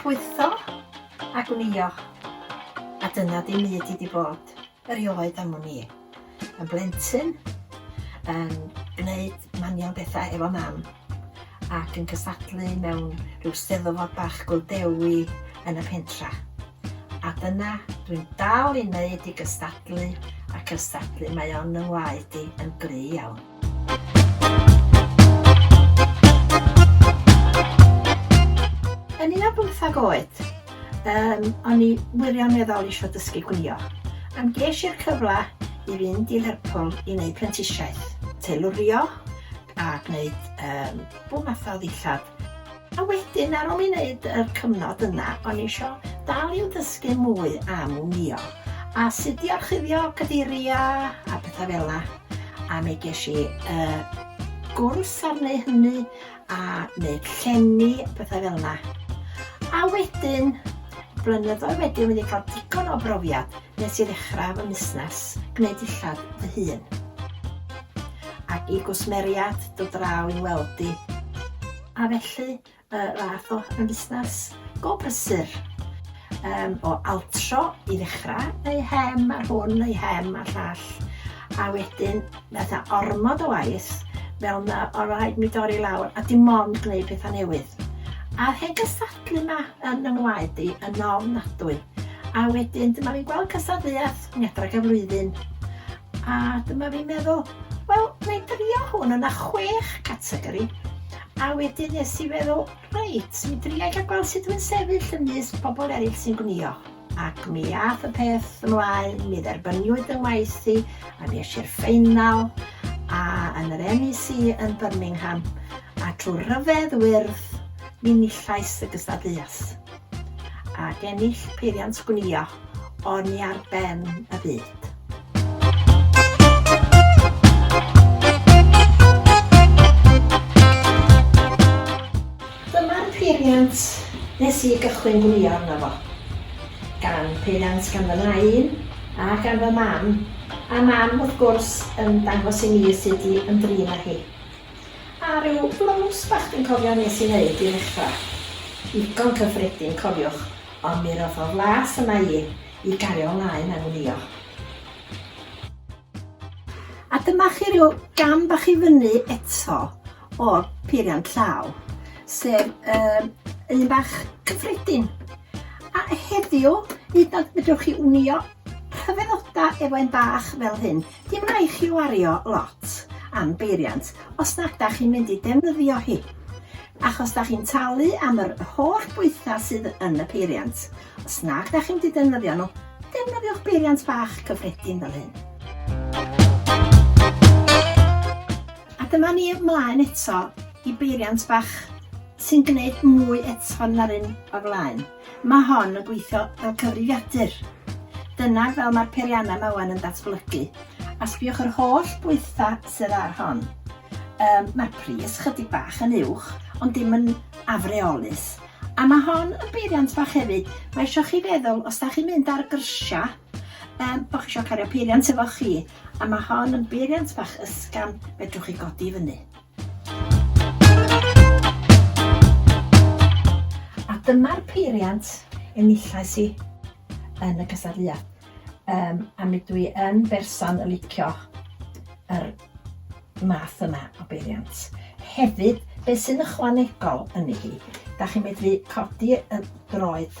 Pwytho a gwnïo, a dyna dim i di di bod erioed am wn i. Yn blentyn, yn gwneud manion bethau efo mam. ac yn cystadlu mewn rhyw steddfod bach Gwldewi yn y pentra. A dyna, dwi'n dal i wneud i gystadlu a cystadlu, mae o'n yng ngwaed i yn gry iawn. Yn un o bymthag oed, um, o'n i wirioneddol eisiau dysgu gwylio. Am ges i'r cyfle i fynd i Lerpwl i wneud prentisiaeth, teilurio, a gwneud yym bob math o ddillad. A wedyn ar ôl i wneud yr cyfnod yna o'n i isio dal i'w dysgu mwy am wnïo a sut i orchuddio cadeiriau a pethau fel yna. A mi ges i uh, gwrs ar neu hynny a wneud llenni a pethau fel yna. A wedyn, blynyddoedd wedyn, wedi cael digon o brofiad Nes i ddechrau fy musnes gwneud dillad fy hun. Ac i gwsmeriad dod draw i'n weld i. A felly, y fath o fusnes go brysur. Yym, o altro i ddechrau, neu hem ar hwn, neu hem ar llall. A wedyn, Fatha ormod o waith, fel ma o raid mi dorri lawr a dim ond gneud petha newydd. A'r hen gystadlu ma yn y ngwaed i yn ofnadwy. A wedyn dyma fi'n gweld cystadleuaeth Gwngedrag y Flwyddyn a dyma fi'n meddwl, wel, na'i drio hwn, o' 'na chwech categori. A wedyn nes i feddwl, reit, mi dria i ga'l gweld sut dwi'n sefyll ymysg pobl eraill sy'n gwnïo. Ac mi ath y peth ymlaen, mi dderbyniwyd fy ngwaith i, a mi eisiau'r ffeinal, a yn yr MEC yn Birmingham, a trwy ryfedd wyrdd, mi nillais y gystadleuaeth. Ac ennill peiriant gwnïo, o'n i ar ben y byd. Dyma'r peiriant nes i gychwyn gwlio arno fo. Gan peiriant gan fy nain a gan fy mam, a mam wrth gwrs yn dangos i mi sud i ymdrin â hi. A rhyw blows bach dwi'n cofio nes i neud i ddechra. Digon cyffredin cofiwch, ond mi roddodd las yma i i gario mlaen a gwlio. A dyma chi ryw gam bach i fyny eto. o'r peiriant llaw, sef um, un bach cyffredin. A heddiw, hyd at fedrwch chi wnio rhyfeddoda efo un bach fel hyn. Dim rhaid chi wario lot am beiriant os nad da chi'n mynd i defnyddio hi. Achos da chi'n talu am yr holl bwytha sydd yn y peiriant. Os nad da chi'n mynd i defnyddio nhw, defnyddiwch beiriant bach cyffredin fel hyn. A dyma ni ymlaen eto i beiriant bach sy'n gwneud mwy eto na'r un o'r flaen. Mae hon yn gweithio fel cyfrifiadur. Dyna fel mae'r peiriannau yma wan yn datblygu. A sbiwch yr holl bwytha sydd ar hon. Um, mae'r pris chydig bach yn uwch, ond dim yn afreolus. A mae hon yn beiriant bach hefyd. Mae eisiau chi feddwl, os da chi'n mynd ar grisiau, um, bod chi eisiau cario peiriant efo chi. A mae hon yn beiriant bach ysgafn fedrwch chi godi i fyny. A dyma'r peiriant enillais i yn y cystadleuaeth. Um, a mi dwi yn berson y licio yr math yma o beiriant. Hefyd, beth sy'n ychwanegol yn ei hi, da chi'n medru codi y droed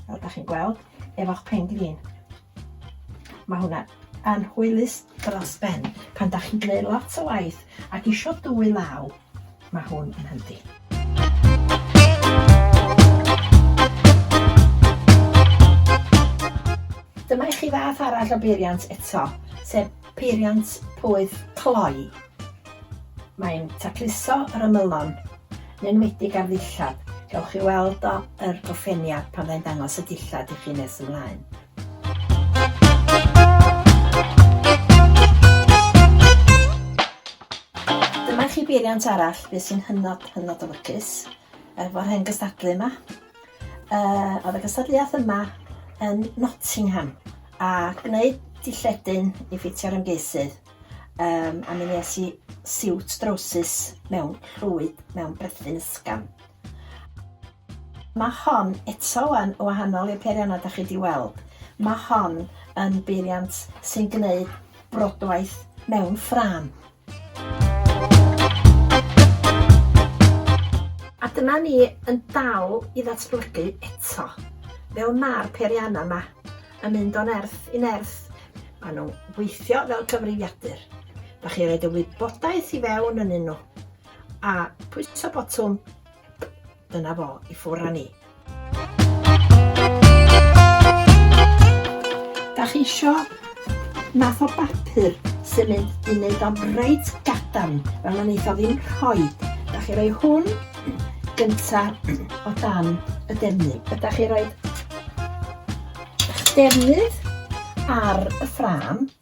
fel da chi'n gweld, efo'ch pen glin. Mae hwnna yn hwylus dros ben. Pan da chi'n gwneud lot o waith ac isio dwy law, mae hwn yn hyndi. Dyma i chi fath arall o beiriant eto, sef Peiriant poeth cloi. Mae'n tacluso yr ymylon, yn enwedig ar ddillad. Gewch chi weld o yr goffeniad pan fyddai'n dangos y dillad i chi nes ymlaen. Dyma chi beiriant arall, beth sy'n hynod, hynod o lwcus, efo'r hen gystadlu yma. Uh, oedd y gystadleuaeth yma yn Nottingham a gwneud dilledyn i ffitio'r ymgeisydd um, a mi nes i siwt drowsus mewn llwyd mewn brethyn ysgam. Mae hon eto yn wahanol i'r peiriannau da chi wedi weld. Mae hon yn beiriant sy'n gwneud brodwaith mewn ffram. A dyma ni yn dal i ddatblygu eto. Fel mae'r peiriannau yma yn mynd o nerth i nerth, maen nhw'n gweithio fel cyfrifiadur. Da chi roed y wybodaeth i fewn yn un nhw. A pwyso botwm Dyna fo, i ffwr â ni. Da chi isio math o bapur sy'n mynd i wneud o'n reit gadarn, fel mae'n eitha ddim rhoi. Da chi roi hwn gynta o dan y defnydd. Da chi roi eich defnydd ar y ffram,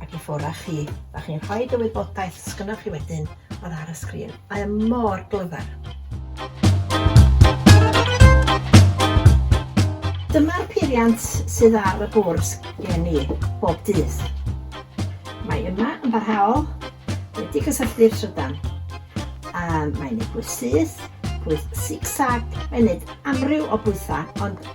ac i ffwrdd â chi. Dach chi'n rhoi y wybodaeth sgynnoch chi wedyn oedd ar y sgrin. Mae e mor glyfar. Dyma'r peiriant sydd ar y bwrs gen i bob dydd. Mae yma yn barhaol wedi cysylltu'r trydan. A mae'n ei bwys syth, bwys zig-zag, mae'n neud amryw o bwythau, ond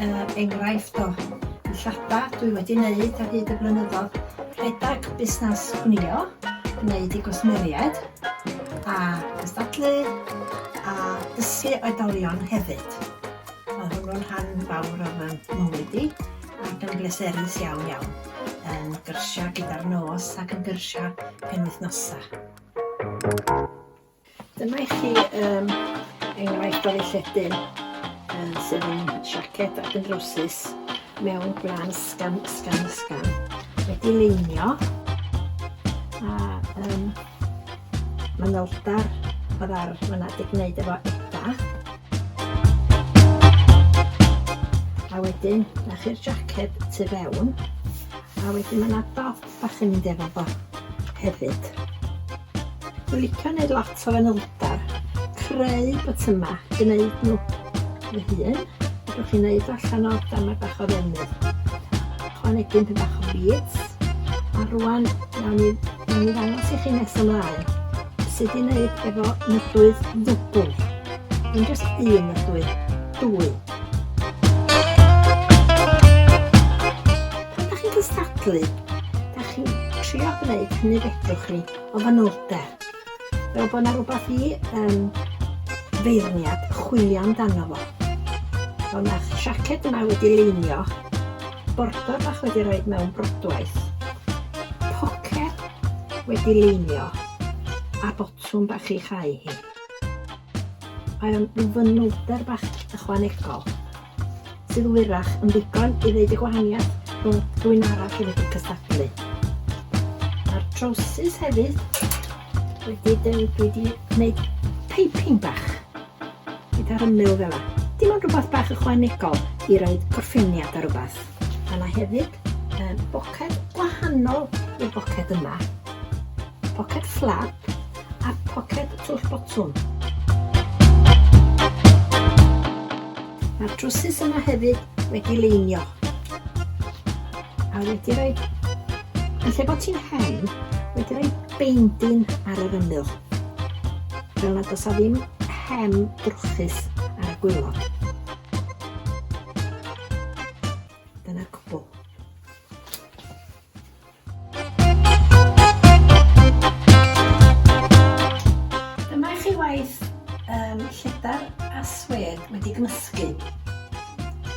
Er enghraifft, o ddillada dwi wedi wneud ar hyd y blynyddoedd, rhedeg busnes gwnïo, gwneud i gwsmeriaid, a gystadlu, a dysgu oedolion hefyd. Mae hwnnw'n rhan fawr o fy mywyd i, ac yn bleserus iawn iawn, yn gyrsiau gyda'r nos ac yn gyrsiau penwythnosau. Dyma i chi um, enghraifft o lledyn um, sydd yn siaced ac yn drwsus mewn gwlan sgan, sgan, sgan. Wedi leinio a um, mae neldar o ddar fyna wedi gwneud efo eda. A wedyn, na chi'r jacket tu fewn. A wedyn mae yna dot a chymryd efo fo hefyd. Dwi'n licio gwneud lot o fanylder, creu botymau, gwneud nhw fy hun. Rwy'n chi'n gwneud allan o damau bach o ddefnydd. Chwanegu'n pyn bach o byd. A rwan, nawn ni, nawn ni ddangos i chi nes ymlaen sut i wneud efo nyllwydd ddwbl. Yn just un nyllwydd, dwy. Ydych chi'n cystadlu? Ydych chi'n trio gwneud hynny fedrwch chi o fanylder? Fel bod yna rhywbeth i um, feirniad chwilio amdano fo. Fel mae'r siaced yma wedi leinio, bordor bach wedi rhoi mewn brodwaith, pocer wedi leinio, a botwm bach i chau hi. Mae o'n fanylder bach ychwanegol sydd wyrach yn ddigon i ddeud y gwahaniaeth rhwng dwyn arall i wedi cystadlu. Mae'r trowsus hefyd wedi dwi wedi gwneud piping bach gyda'r ymyl fel yna. Dim ond rhywbeth bach ychwanegol i roi gorffeniad ar rhywbeth. Mae yna hefyd um, boced gwahanol i'r boced yma. Poced fflap a phoced twll botwm. Mae'r trwsus yma hefyd wedi leinio. A wedi rhoi, yn lle bod ti'n hen, wedi rhoi beindin ar yr ymyl. Fel nad oes a ddim hem drwchus ar y gwylod. Dyma i chi waith um, lledar a swed wedi gymysgu.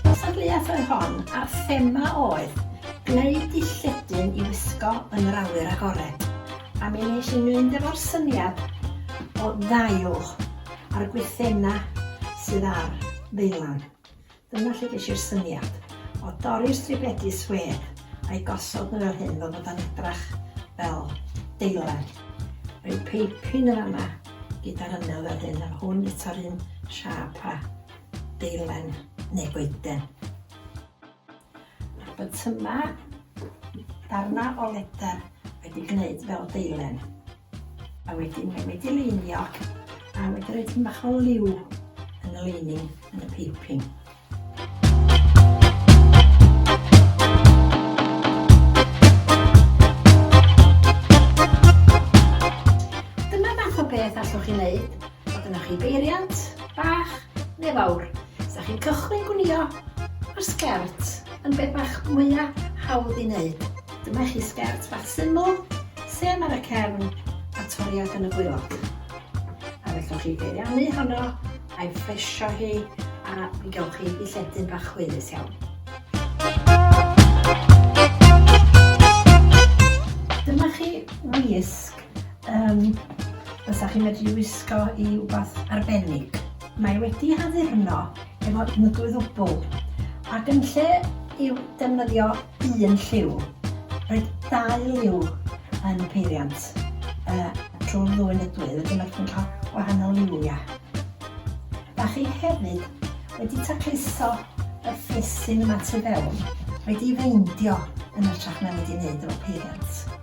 Cystadleuaeth oedd hon a'r thema oedd gwneud di lledyn i wisgo yn yr awyr agored. A mi nes i mynd efo'r syniad o ddail a'r gwythena sydd ar ddeilan. Dyna lle ges i'r syniad o dorri'r stribedi swêr a'i gosod nhw fel hyn fel bod o'n edrach fel deilen. Rhyw peipin yn fan'na gyda'r ymyl fel hyn a hwn eto'r un siâp a deilen neu goeden. Mae'r bytymau, darnau o ledr wedi gwneud fel deilen, a wedyn mae wedi leinio a wedi rhoi tyn bach o liw yn y leining yn y piping. Dyma fath o beth allwch chi wneud A dyna chi beiriant, bach neu fawr. Sa chi'n cychwyn gwnïo, mae'r sgert yn beth bach mwya hawdd i wneud. Dyma chi sgert bach syml, sef ar y cefn a toriad yn y gwaelod. A fellwch chi beiriannu honno a'i ffresio hi a mi gael chi i lledu'n bach chweilus iawn. Dyma chi wisg Yym, fysa chi'n medru wisgo i wbath arbennig. Mae wedi ei haddurno efo unigl ddwbl, ac yn lle i'w defnyddio un lliw, roedd dau liw yn y peiriant uh, trwy'r ddwy nydwydd, wedyn mae chi'n cael gwahanol liwia. Da chi hefyd wedi tacluso y ffys sy'n yma tu fewn, wedi feindio yn ytrach na wedi wneud o'r peiriant.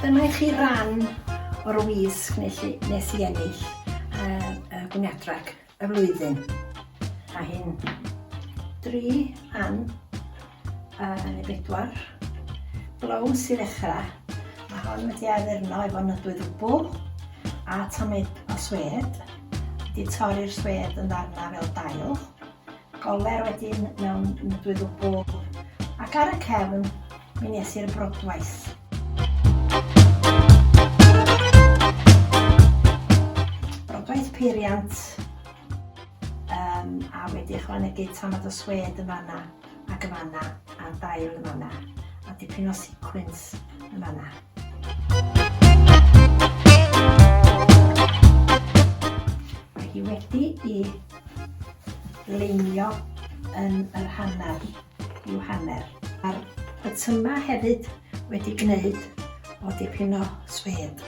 Dyma i chi ran o'r wisg nes i, nes i ennill uh, uh, gwniadrag y flwyddyn. A hyn, dri rhan uh, neu bedwar blows i ddechrau. Mae hon wedi addurno efo nydwydd wbl a tamid o swed. Wedi torri'r swed yn ddarna fel dail. Goler wedyn mewn dwy ddwbl ac ar y cefn mi nes i'r brodwaith. Brodwaith peiriant um, a wedi ychwanegu tamad o swed yn fanna ac yn fanna a dail yn fanna a dipyn o sequins yn fanna. Mae hi wedi i Leinio yn yr hanner yw hanner. Mae'r botymau hefyd wedi gwneud o dipyn o swêd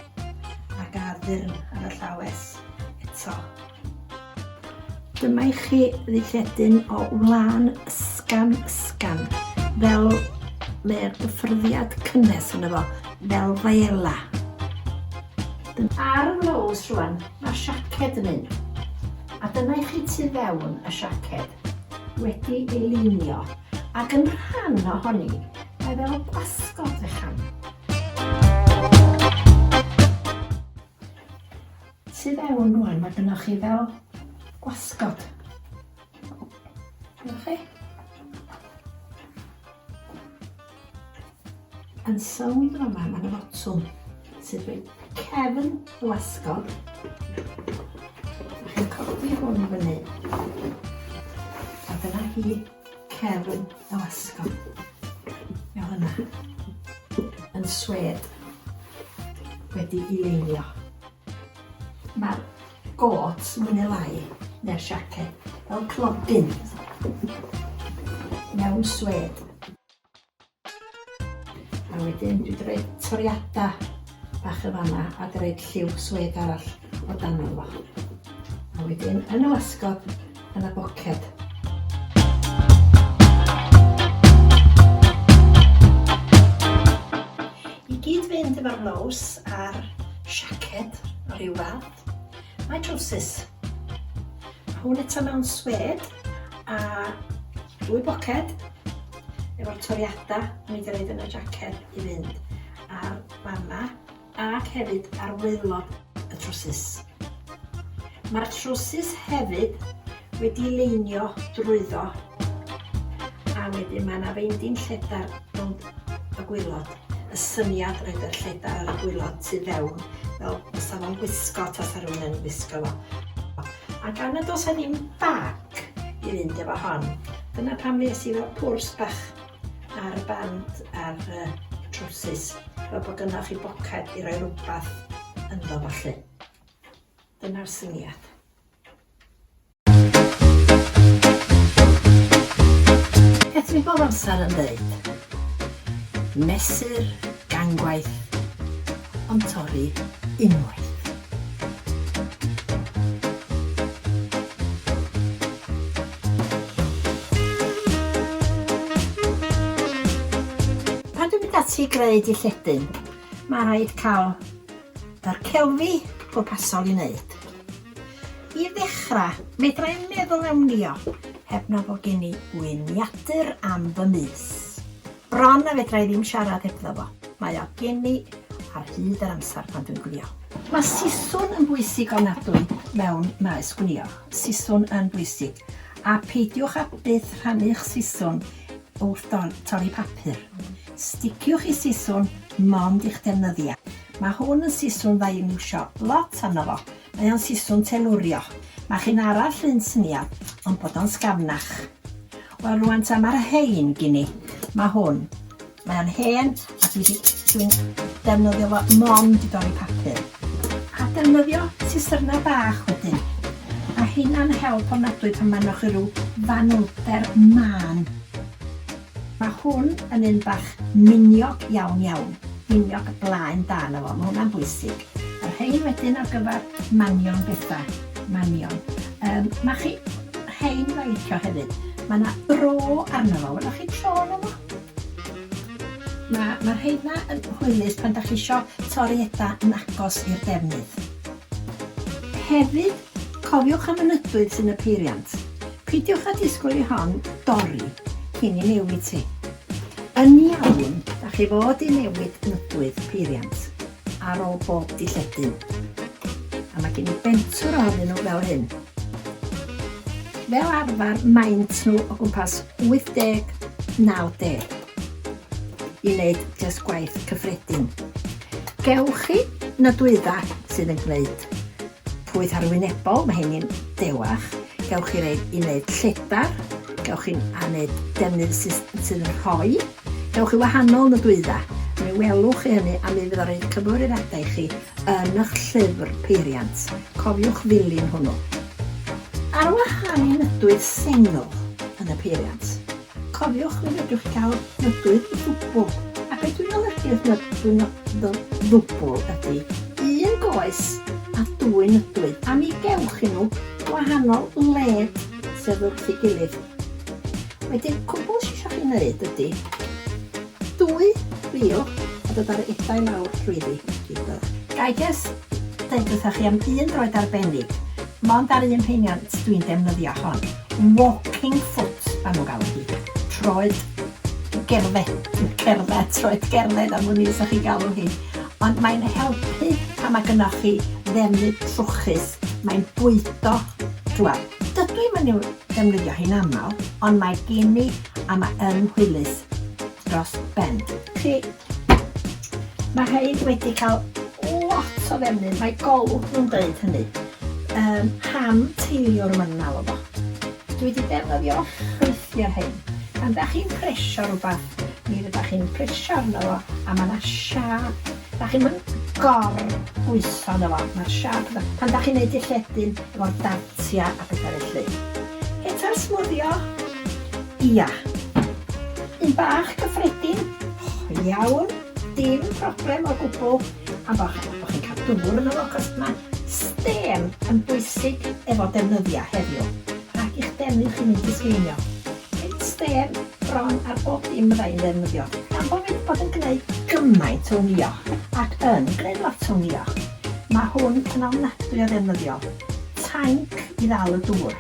a gad ddyrn ar y llawes eto. Dyma i chi ddilledyn o wlân ysgafn ysgafn, fel mae'r gyffyrddiad cynnes yno fo, fel faela. Ar y blows rwan, Mae'r siaced yn un. A dyna i chi tu fewn y siaced, wedi ei lunio, ac yn rhan ohoni, mae fel gwasgod fechan. Tu fewn rwan, mae gynnwch chi fel gwasgod. Gwelwch chi? Yn sownd yn fama, mae yna fotwm sy'n dweud cefn y wasgog. Chi'n codi hwn i fyny. A dyna hi cefn y wasgog. Fel yna. Yn swed. Wedi i leinio. Mae'r Gôt, mwy neu lai, neu'r siaced, fel clodyn, mewn swêd. A wedyn dwi wedi rhoi toriadau bach yn fanna a wedi rhoi lliw swêd arall o dan fo. A wedyn yn y wasgod yn y bwced. I gyd fynd efo'r blows a'r siaced o ryw fath, mae trowsus. Mae hwn eto mewn swed a dwy boced efo'r toriadau o'n i wedi rhaid yn y jaced i fynd a'r fanna ac hefyd ar waelod y trwsus. Mae'r trwsus hefyd wedi leinio drwyddo a wedyn mae yna feindin lledar rownd y gwylod. Y syniad oedd y lledar ar y gwylod tu fewn fel fysa fo'n gwisgo tasa rhywun yn gwisgo fo. A gan y dos a ddim bag i fynd efo hon, dyna pam nes i fel pwrs bach ar y band ar y trowsus fel bod yna chi boced i roi rhywbeth ynddo falle. Dyna'r syniad. Beth mi bob amser yn dweud? Mesur gangwaith ond torri unwaith. Pan dwi'n mynd ati i greu dy lledyn, mae rhaid cael yr celfi pwrpasol i wneud. I ddechrau, medra i'n meddwl am nio heb na fod gen i wyniadur am fy mis. Bron na fedra i ddim siarad hebddo fo. Mae o gen i ar hyd yr amser pan dwi'n gwnïo. Mae siswrn yn bwysig ofnadwy mewn maes gwnïo. Siswrn yn bwysig. A peidiwch â byth rhannu'ch siswrn wrth torri papur. Sticiwch i siswrn mond i'ch defnyddiau. Mae hwn yn siswrn dda i'w iwsio lot arno fo. Mae o'n siswm telurio. Mae chi'n ara llun syniad, ond bod o'n sgafnach. Wel rwan ta mae'r rhein gin i. Mae hwn. Mae o'n hen a dwi di, dwi'n defnyddio fo mond i dorri papur. A defnyddio sisyrna bach wedyn. Mae heina'n help ofnadwy pan mae'n chi rhyw fanylder mân. Mae hwn yn un bach miniog iawn iawn. Miniog blaen da yna fo, mae hwnna'n bwysig. A rhein wedyn ar gyfer manion bethau, manion. Yym, mae chi, rhein mae'n licio hefyd. Mae yna bro arno fo, weloch chi bro arno fo? Mae, mae rheina yn hwylus pan da chi isio torri eda yn agos i'r defnydd. Hefyd, cofiwch am y nydwydd sy'n y peiriant. Pidiwch a disgwyl i hon dorri cyn i newid ti. Yn iawn, da chi fod i newid nydwydd peiriant. ar ôl bob dilledyn. A mae gen i bentwr ohonyn nhw fel hyn. Fel arfer maent nhw o gwmpas 80-90 i wneud just gwaith cyffredin. Gewch chi na dwydda sydd yn gwneud pwyth arwynebol, mae hyn i'n dewach. Gewch chi reid i wneud lledar, gewch chi'n wneud defnydd sydd yn rhoi Dewch i wahanol nodwydda, mi welwch chi hynny a mi fydd o'n rhoi cyfarwyddiadau i chi yn y'ch llyfr peiriant. Cofiwch ddilyn hwnnw. Ar wahân i nodwydd sengl yn y peiriant, cofiwch mi fedrwch chi gael nodwydd ddwbl, a be dwi'n olygu wrth nodwydd ddwbl ydy un goes a dwy nodwydd a mi gewch chi nhw wahanol led sef wrth ei gilydd. Wedyn, cwbl sy isio chi wneud ydy dwy rîl a dod â'r edau lawr drwyddi, reit dda. Ga i jyst deud wrthoch chi am un droed arbennig, mond ar un peiriant dwi'n defnyddio hon, walking foot ma' nhw'n galw hi, troed gerdded, cerdded, troed gerdded am wn i sa chi'n galw hi, ond mae'n helpu pan ma' gynnoch chi ddefnydd trwchus, mae'n bwydo, t'wel, Dydw i'm yn i'w defnyddio hi'n aml, ond mae gen i a mae yn hwylus dros ben. Chi, mae rhain wedi cael lot o ddefnydd, mae golwg nhw'n dweud hynny. Yym, ham teiliwr maen nhw'n alw fo. Dwi wedi defnyddio ffrwythiau hyn. Pan da chi'n presio rhywbeth, mi fydda chi'n presio arno fo a mae yna siâp Dach chi'm yn gor bwyso yno fo, ma'r siâp yna. Pan dach chi'n neud dy lledyn efo'r dartia a petha felly. Heta'r smwddio? Ia. Un bach cyffredin? O iawn, dim problem o gwbwl. Am bo' chi bo' chi'n ca'l dŵr yno fo, achos ma' stêm yn bwysig efo defnyddia heddiw. Rhag i'ch defnydd chi mynd i sgeinio. Nid stêm bron ar bob dim fydda i'n ddefnyddio, gan bo fi 'di bod yn gneud gymaint o wnïo, ac yn gneud lot o wnïo. Mae hwn yn ofnadwy o ddefnyddiol. Tainc i ddal y dŵr.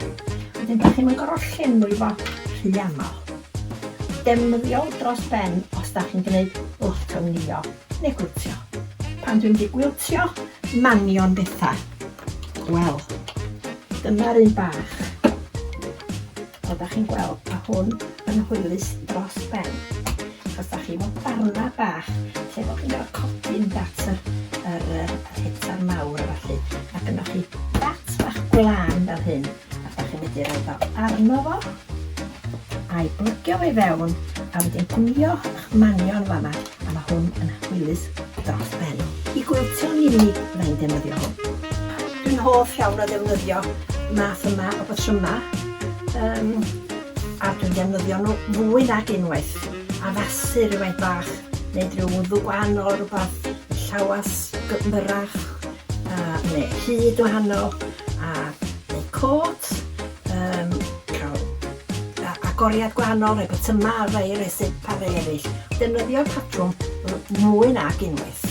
Wedyn dach chi'm yn gor'o' llenwi fo rhy amal. Defnyddiol dros ben os dach chi'n gneud lot o wnïo. Neu gwiltio. Pan dwi'n mynd i gwiltio manion bethau, wel, dyma'r un bach. O, da chi'n gweld, mae hwn yn hwylus dros ben. Achos da chi fod darna bach, lle bod chi'n gorfod codi yn dat yr, yr, yr hetar mawr a falle. Ac yna chi dat bach gwlan fel hyn, a da chi'n mynd i roi fel arno fo, a'i blygio fe fewn, a wedyn gwmio Manion fama a ma hwn yn hwylus dros ben. I gwiltio nid unig fydda i'n defnyddio hwn. Dwi'n hoff iawn o ddefnyddio math yma o batryma yym a dwi'n defnyddio nhw fwy nag unwaith. Addasu rhywfaint bach, neud rhyw wddw gwahanol rhywbeth, llawas myrach a ne hud wahanol a neu côt yym ca'l Agoriad gwahanol, rhoi botymau ar rai eraill, sip ar rai eraill. Defnyddio'r patrwm mwy nag unwaith.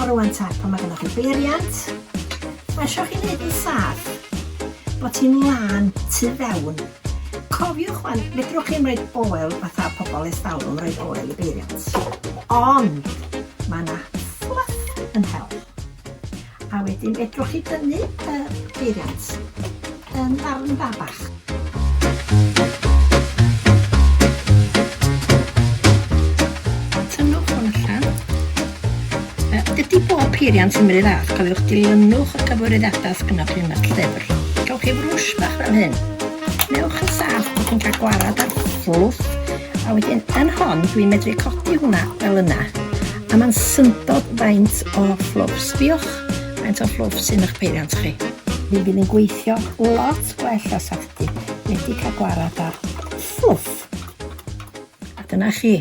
O rwan ta, pan mae gennych chi beiriant, mae eisiau chi wneud yn saff, bod ti'n lan tu fewn. Cofiwch wan, fedrwch chi'n rhoi oel fatha pobl estalwm, rhoi oel i beiriant. Ond mae yna fluff yn hel. A wedyn fedrwch chi dynnu y peiriant yn ddarn bach. Dydy bob peiriant yn mynd fath, cofiwch dilynwch y cyfarwyddiadau sydd gennych chi yn y llyfr. Cewch chi frwsh bach fel hyn. Newch yn saff bod chi'n cael gwarad ar fwlwf A wedyn yn hon, dwi'n medru codi hwnna fel yna. A mae'n syndod faint o fflwfs. Diolch faint o fflwfs sy'n eich peiriant chi. Mi fydd yn gweithio lot gwell o safti. Wedi cael gwarad ar fflwff. A dyna chi.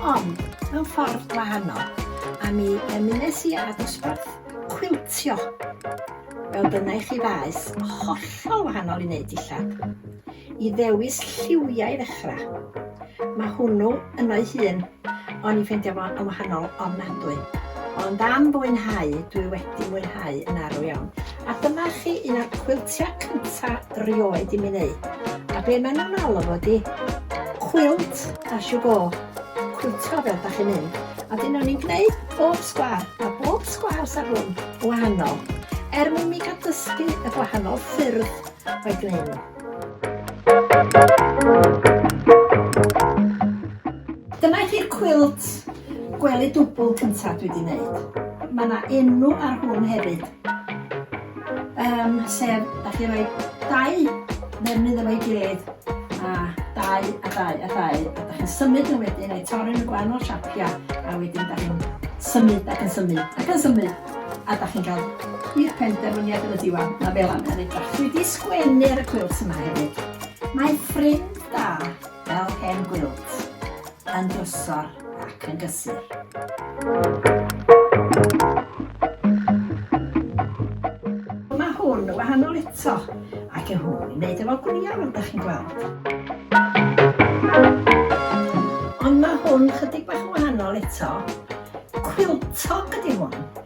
Ond, mewn ffordd gwahanol, a mi ymunes i â dosbarth cwiltio, fel dyna i chi faes, hollol wahanol i wneud dillad, i ddewis lliwiau i ddechrau. Mae hwnnw yno'i hun, o'n i'n ffeindio fo yn wahanol ofnadwy. Ond am fwynhau, dwi wedi mwynhau yn arw iawn. A dyma chi un o'r cwiltiau cynta rioed i mi wneud. A be maen nhw'n alw fo ydi cwilt as you go. Cwiltio fel da chi'n mynd. A dyn o'n i'n gwneud bob sgwar, a bob sgwar sa hwn wahanol. Er mwyn mi gael dysgu y gwahanol ffyrdd o'i gwneud nhw. Dyma chi'r cwilt gwely dwbl cyntaf dwi wedi wneud. Mae yna enw ar hwn hefyd. Um, sef, da chi roi dau ddefnydd efo'i gilydd, a dau, a dau, a dau, a da chi'n symud yn wedyn, a'i torri'n y gwahanol siapiau, a wedyn da chi'n symud ac yn symud ac yn symud, a da chi'n cael i'r penderfyniad yn y diwan, na fel yna yn edrach. Dwi wedi sgwennu ar y cwils yma hefyd. Mae ffrind da fel hen gwilt, yn drwsor ac yn gysur. Mae hwn yn wahanol eto, ac yn hwn yn neud efo gwnïo fel da chi'n gweld. Ond mae hwn chydig bach yn wahanol eto. Quiltog ydy hwn.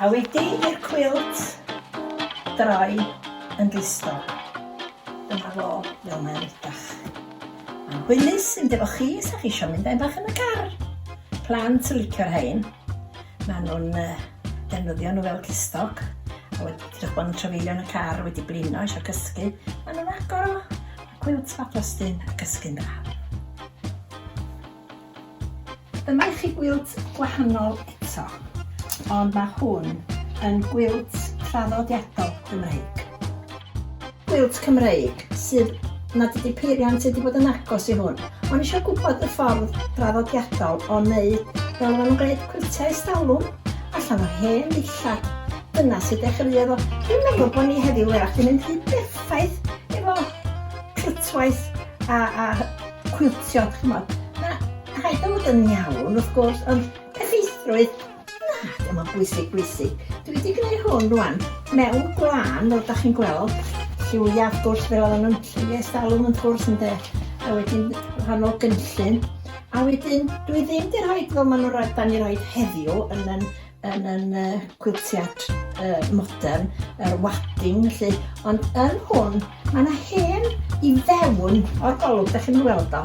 A wedi i'r cwilt droi yn glisto, dyma fo fel mae'n edrych. Mae'n hwylus mynd efo chi, sa chi eisiau mynd a'i bach yn y car. Plant yn licio'r rhain. Maen nhw'n defnyddio nhw fel glistoc. A wedi edrych bod yn trafeilio yn y car, wedi blino, eisiau cysgu. Maen nhw'n agor o, cwilt fab Justin a cysgu'n dda. Dyma i chi gwilt gwahanol eto, ond mae hwn yn gwilt traddodiadol Gymreig. Gwilt Cymreig sydd nad ydy peiriant wedi bod yn agos i hwn. O'n eisiau gwybod y ffordd draddodiadol o wneud fel maen nhw'n gwneud cwiltiau estalwm allan o hen ddillad. Dyna sydd dechreuodd o. Dwi'n meddwl bod ni heddiw erach yn mynd rhy berffaith efo clytwaith a, a cwiltio, ch'mod, ma' rhaid o fod yn iawn wrth gwrs, ond effeithrwydd, na, ddim yn bwysig bwysig. Dwi wedi gwneud hwn rwan mewn gwlân, fel da chi'n gweld, lliwiau wrth gwrs fel oedden nhw'n lliwiau stalwm yn cwrs ynde, a wedyn rhannol gynllun, a wedyn dwi ddim wedi rhoi fel maen nhw'n rhoi, da ni'n rhoi heddiw yn yn yn yn y cwiltiad uh, modern, yr wadding, felly, ond yn hwn, mae yna hen i fewn o'r golwg, da chi'n weld o.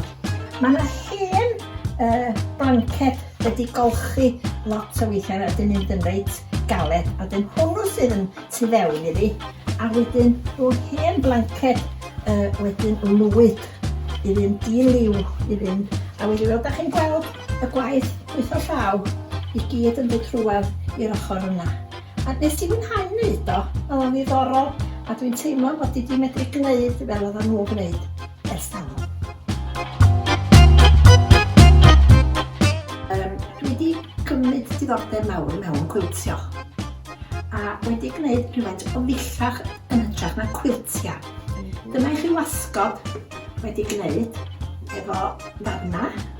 Mae yna hen uh, blanced wedi golchi lot o weithiau a dyn mynd yn reit galed, a dyn hwnnw sydd yn tu fewn iddi, a wedyn rhyw hen blanced uh, wedyn lwyd i fynd i liw i fynd, a wedi weld, da chi'n gweld Y gwaith gweithio llaw i gyd yn dod rhywedd i'r ochr yna. A nes i fwynhau wneud o, oedd o'n ddiddorol, a dwi'n teimlo bod i di medru gwneud fel oedd nhw gwneud ers talwm. Um, dwi wedi cymryd diddordeb mawr mewn cwiltio a wedi gwneud rhywfaint o ddillach yn hytrach na cwiltia. Dyma i chi wasgod wedi gwneud efo ddarna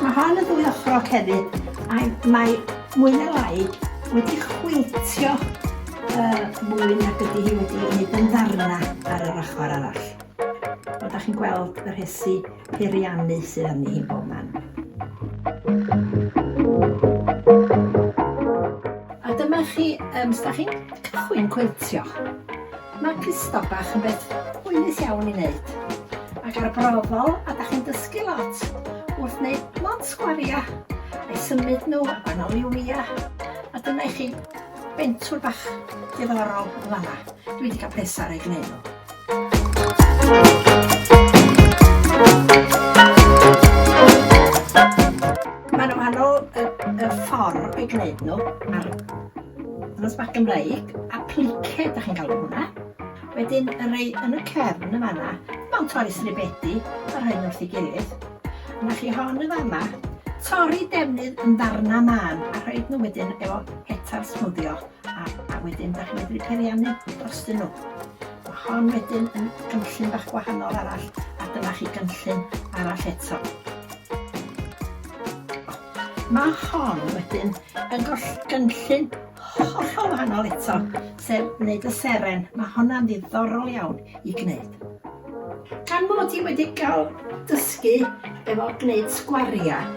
Mae hon yn ddwy ochrog hefyd, a mae mwy na lai wedi chwiltio uh, mwy nag ydy hi wedi ei wneud yn ddarna ar yr ochr arall. Ond da chi'n gweld y rhesi peiriannu sydd arni hi bob man. A dyma chi, um, da chi'n cychwyn cwiltio. Mae clustog bach yn beth hwylus iawn i wneud, ac arbrofol a da chi'n dysgu lot wrth wneud lot sgwaria, a'i symud nhw a banoli wia, a dyna i chi bentwr bach diddorol yn fanna. Dwi wedi cael pleser ei gwneud nhw. Mae'n wahanol y, y ffordd o'i gwneud nhw a'r Nos bach Gymreig, a plice da chi'n galw hwnna. Wedyn y rei yn y cefn y fanna, mewn torri sribedi, a rhoi wrth i gilydd. Yna chi hon y fanna, torri defnydd yn ddarna man, a rhoi nhw wedyn efo hetar smwddio, a, a wedyn da chi'n medru periannu dros dyn nhw. Mae hon wedyn yn gynllun bach gwahanol arall, a dyna chi gynllun arall eto. Mae hon wedyn yn goll- gynllun hollol wahanol eto, sef wneud y seren. Mae honna'n ddiddorol iawn i gwneud. Gan mod i wedi cael dysgu efo gwneud sgwariau,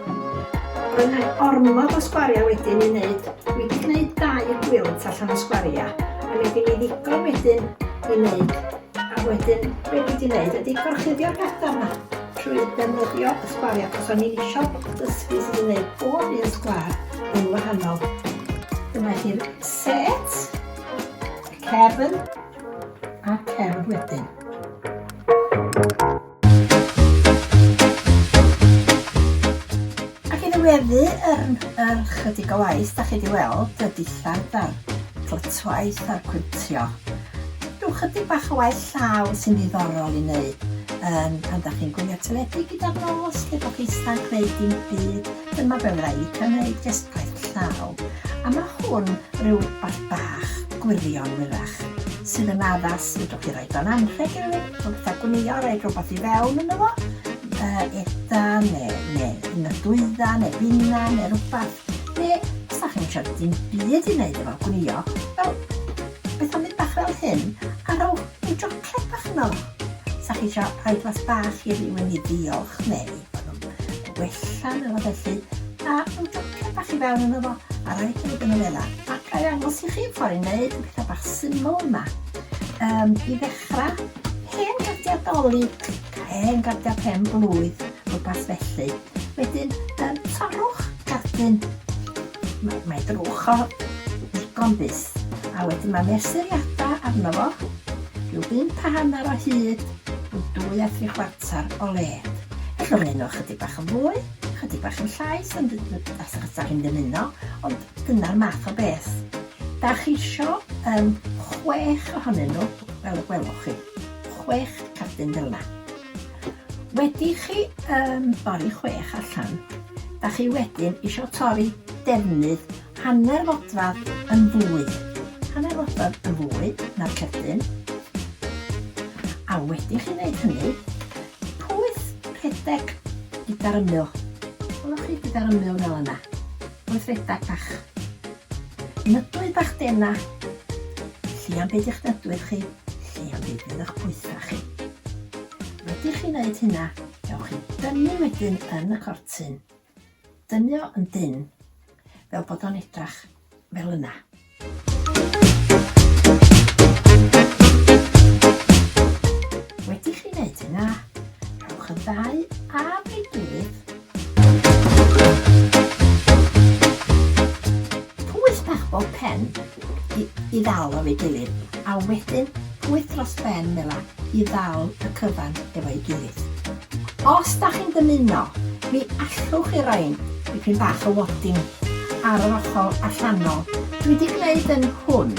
roedd 'na ormod o sgwariau wedyn i wneud. Dwi 'di gwneud dau gwilt allan o sgwariau, a mi oedd gin i ddigon wedyn i wneud, a wedyn be' dwi 'di wneud ydi gorchuddio'r petha 'ma. trwy ddefnyddio y sgwariau achos o'n i'n eisiau dysgu sut i wneud bob un sgwar yn wahanol. Dyma chi'r set, y cefn a cefn wedyn. Ac i ddiweddu yr, yr chydig o waith, da chi wedi weld y dillad a'r clytwaith a'r cwntio. Cadw chydig bach o waith llaw sy'n ddiddorol i wneud um, pan da chi'n gwylio teledu gyda'r nos, lle bod chi ista'n gwneud dim byd, dyma be fyddai licio wneud, jyst gwaith llaw. A mae hwn rhyw bach bach, gwirion wyrach, sydd yn addas, fedrwch chi roi do'n anrheg i rhywun, o gyda gwnio, roi rhywbeth i fewn yn efo, uh, etha, neu, neu yn y dwydda, neu bina, neu rhywbeth, neu os da chi'n siarad dim byd i wneud efo gwnio, wel, Beth am mynd bach fel hyn, a rhowch ryw jocled bach yno? Sa chi isio rhoi glas bach i rywun i ddiolch neu bod o'n wella neu rywbeth felly, a rhyw jocled bach i fewn yno fo a rhoi hyd yn y wela. A ga i ddangos i chi ffordd i wneud y pethau bach syml yma. Um, I ddechrau, hen gardiau dolig, hen gardiau pen blwydd, rhywbeth felly. Wedyn, um, torrwch gardyn Mae, mae drwch o ddigon byth. A wedyn mae mesuriadau arno fo, rhyw bump a hanner o hyd, rhyw dwy a thri chwarter o led. Felly mae nhw chydig bach yn fwy, chydig bach yn llai, sy'n as achos da chi'n dymuno, ond dyna'r math o beth. Da chi eisiau um, chwech ohonyn nhw, fel y gwelwch chi. Chwech cardyn fel yna. Wedi chi um, bori chwech allan, da chi wedyn eisiau torri defnydd hanner fodfadd yn fwy, hanner fodfadd yn fwy na'r cerdyn, a wedi chi wneud hynny, pwyth rhedeg gyda'r ymyl. Gwelwch chi gyda'r ymyl fel yna. Gweithredeg bach. Nydwy bach dena. Lli am byd i'ch nydwydd chi, lli am byd fydd y'ch pwytha chi. Wedi chi wneud hynna, dewch chi dynnu wedyn yn y cortyn. Dynnu o yn dynn, fel bod o'n edrach fel yna. Wedi chi wneud hynna, rhowch y ddau am ei gilydd. Pwyth bach bob pen i, i ddal o'r ei gilydd, a wedyn pwyth dros ben fel i ddal y cyfan efo'i gilydd. Os da chi'n dymuno, mi allwch chi roi'n dipyn bach o wadding ar yr ochr allanol. Dwi di gneud yn hwn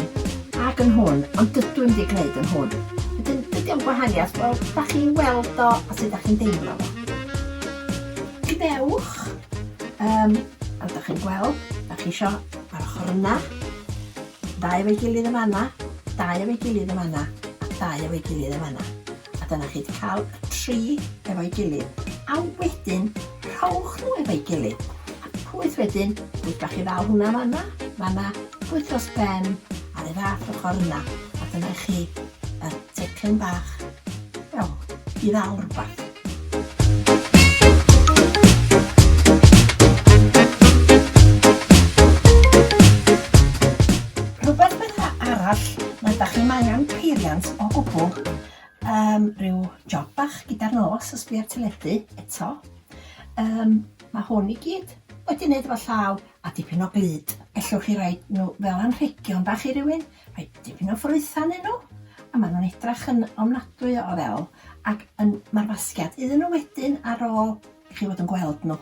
ac yn hwn, ond dydw i'm di gneud yn hwn. Wedyn, be di o'n gwahaniaeth? Wel, da chi'n weld o a sut da chi'n deimlo fo. Gwnewch, um, fel da chi'n gweld, da chi isio ar ochr yna, Dau efo'i gilydd yn fan'na, dau efo'i gilydd yn fan'na, a dau efo'i gilydd yn fan'na. A dyna chi 'di cael y tri efo'i gilydd. A wedyn, rhowch nhw efo'i gilydd. A pwyth wedyn, pwyth bach i ddal hwnna fan'na, fan'na, pwyth dros ben, ar y fath ochr yna. A dyna chi y teclyn bach, wel, i ddal rhywbeth. Rhywbeth bydda arall nad da chi'n angen peiriant o gwbl, um, rhyw job bach gyda'r nos os dwi ar teledu eto. Um, mae hwn i gyd wedi wneud efo llaw a dipyn o glyd. Ellwch chi roi nhw fel anrhegion bach i rywun? Mae dipyn o ffrwytha ynnyn nhw a maen nhw'n edrach yn ofnadwy o ddel ac yn ma'r fasgiad iddyn nhw wedyn ar ôl i chi fod yn gweld nhw.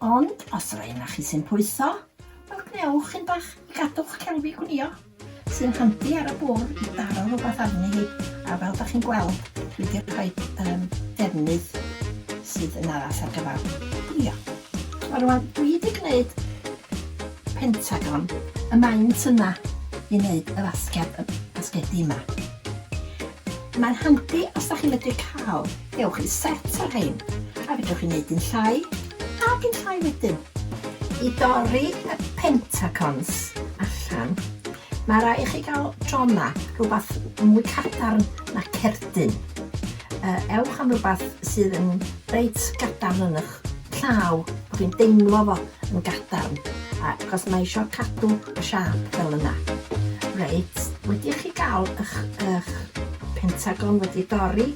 Ond os yr un chi sy'n pwytho, wel gwnewch un bach i gadw'ch celfi gwnïo, sy'n handi ar y bwr' i daro rhywbeth arni hi a fel da chi'n gweld dwi wedi rhoi um, defnydd sydd yn addas ar gyfer gwnïo. Wel rwan dwi wedi gwneud Pentagon y maent yna i wneud y fasged, y basgedi yma. Mae'n handi os da chi'n medru cael, gewch chi set o'r rhain, a fedrwch chi wneud un llai, a un llai wedyn. I dorri y pentacons allan, mae rai chi gael drona, rhywbeth mwy cadarn na cerdyn. Uh, ewch am rhywbeth sydd yn reit gadarn yn eich sioc. Llaw, bo fi'n deimlo fo yn gadarn, achos mae isio cadw y siâp fel yna. Reit, wedi i chi gael ych, ych pentagon wedi dorri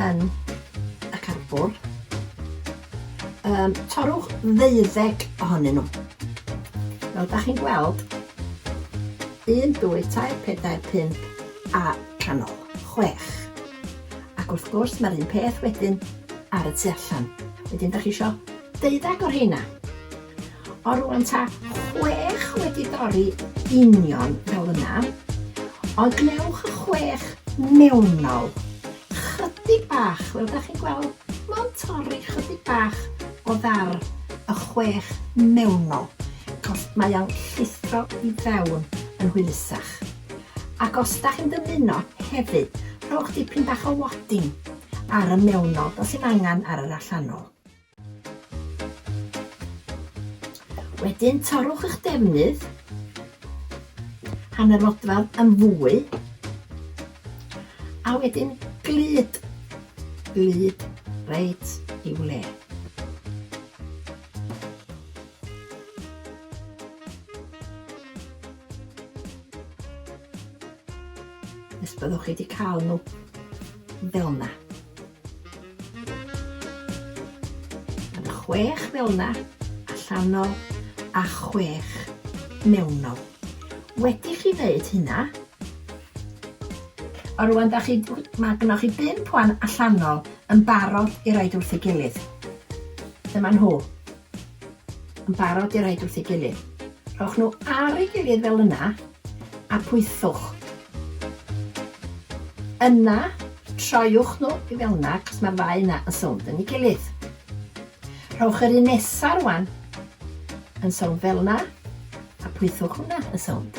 yn y carbwr, um, torwch ddeuddeg ohonyn nhw. Fel da chi'n gweld, 1, 2, 3, 4, 5 a canol, 6. Ac wrth gwrs mae'r un peth wedyn ar y tu allan. Wedyn da chi eisiau deuddag o'r heina. O rwan ta chwech wedi dorri union fel yna. Ond gwnewch y chwech mewnol. Chydig bach, fel da chi'n gweld, mae'n torri chydig bach o ddar y chwech mewnol. Cos mae o'n llithro i fewn yn hwylusach. Ac os ydach chi'n dymuno hefyd, rhowch dipyn bach o wadding ar y mewnol, does dim angen ar yr allanol. Wedyn torrwch eich defnydd, hanner fodfadd yn fwy, a wedyn glyd, glyd reit i'w le. Nes byddwch chi wedi cael nhw fel yna. Yn chwech fel yna, allanol a chwech mewnol. Wedi chi wneud hynna, a rwan da chi, mae gynnwch chi bum pwan allanol yn barod i roed wrth ei gilydd. Dyma nhw. Yn barod i roid wrth ei gilydd. Rhowch nhw ar ei gilydd fel yna a pwythwch. Yna, troiwch nhw i fel yna achos mae'r ddau yna yn sownd yn ei gilydd. Rhowch yr un nesaf rwan yn sownd fel yna a pwythwch hwnna yn sownd.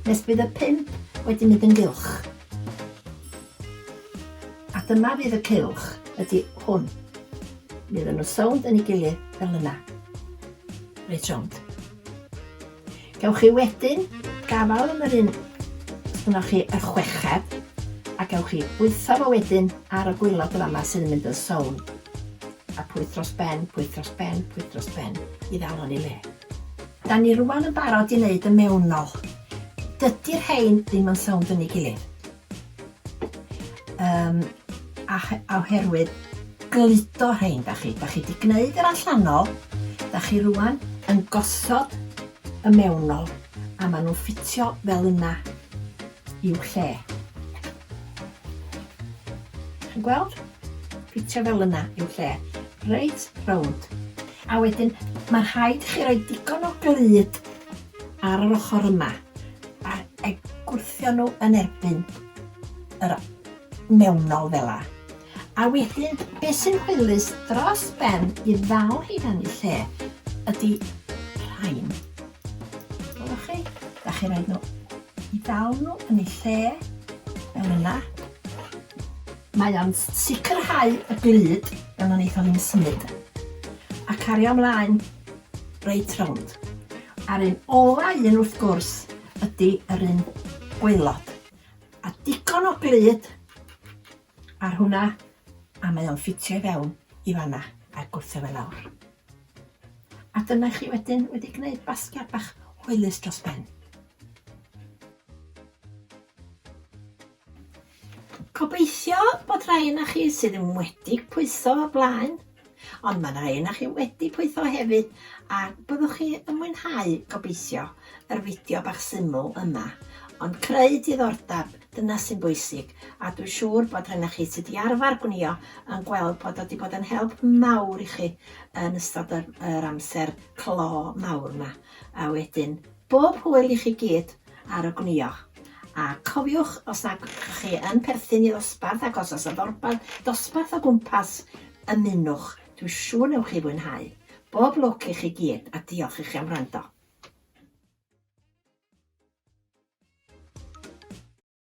Nes bydd y pump wedi mynd yn gylch. A dyma fydd y cylch, ydy hwn. Mi oedden nhw'n sownd yn ei gilydd fel yna. Reit rownd. Gewch chi wedyn gafael yn yr un ynoch chi y chweched a gewch chi bwytho fo wedyn ar y gwylod y fama sydd yn mynd yn sown. A pwyth dros ben, pwyth dros ben, pwyth dros ben i ddal o'n ei le. Da ni rwan yn barod i neud y mewnol. Dydi'r rhein ddim yn sownd fyny gilydd. Um, a, a oherwydd gludo rhein, da chi. Da chi di gneud yr allanol, da chi rwan yn gosod y mewnol, a maen nhw'n ffitio fel yna i'w lle. Chi'n gweld? Ffitio fel yna i'w lle. Reit rownd. A wedyn, mae'n rhaid i chi roi digon o glud ar yr ochr yma a gwrthio nhw yn erbyn yr mewnol fel la. A wedyn, beth sy'n hwylus dros ben i ddal hi dan ei lle ydy rhain. Gwelwch chi? Da chi rhaid nhw i ddal nhw yn ei lle fel yna. Mae o'n sicrhau y glud fel y wnaethon ni'n symud a cario ymlaen reit rownd. A'r un ola un wrth gwrs ydi yr un gwaelod. A digon o glud ar hwnna a mae o'n ffitio i fewn i fanna a'r gwrthau fe lawr. A dyna chi wedyn wedi gwneud basgiad bach hwylus dros ben. Gobeithio bod rhai yna chi sydd yn wedi pwytho o'r blaen, ond mae rhai yna chi wedi pwytho hefyd, a byddwch chi yn mwynhau, gobeithio, yr fideo bach syml yma. Ond creu diddordeb, dyna sy'n bwysig, a dwi'n siŵr bod rhai yna chi sydd wedi arfer gwnio yn gweld bod wedi bod yn help mawr i chi yn ystod yr, yr amser clo mawr yma. A wedyn, Bob hwyl i chi gyd ar y gwnïo. A cofiwch os nad ydych chi yn perthyn i ddosbarth ac os oes y ddorbarth dosbarth o gwmpas, ymunwch, dwi siŵr newch chi fwynhau. Bob lwc i chi gyd a diolch i chi am wrando.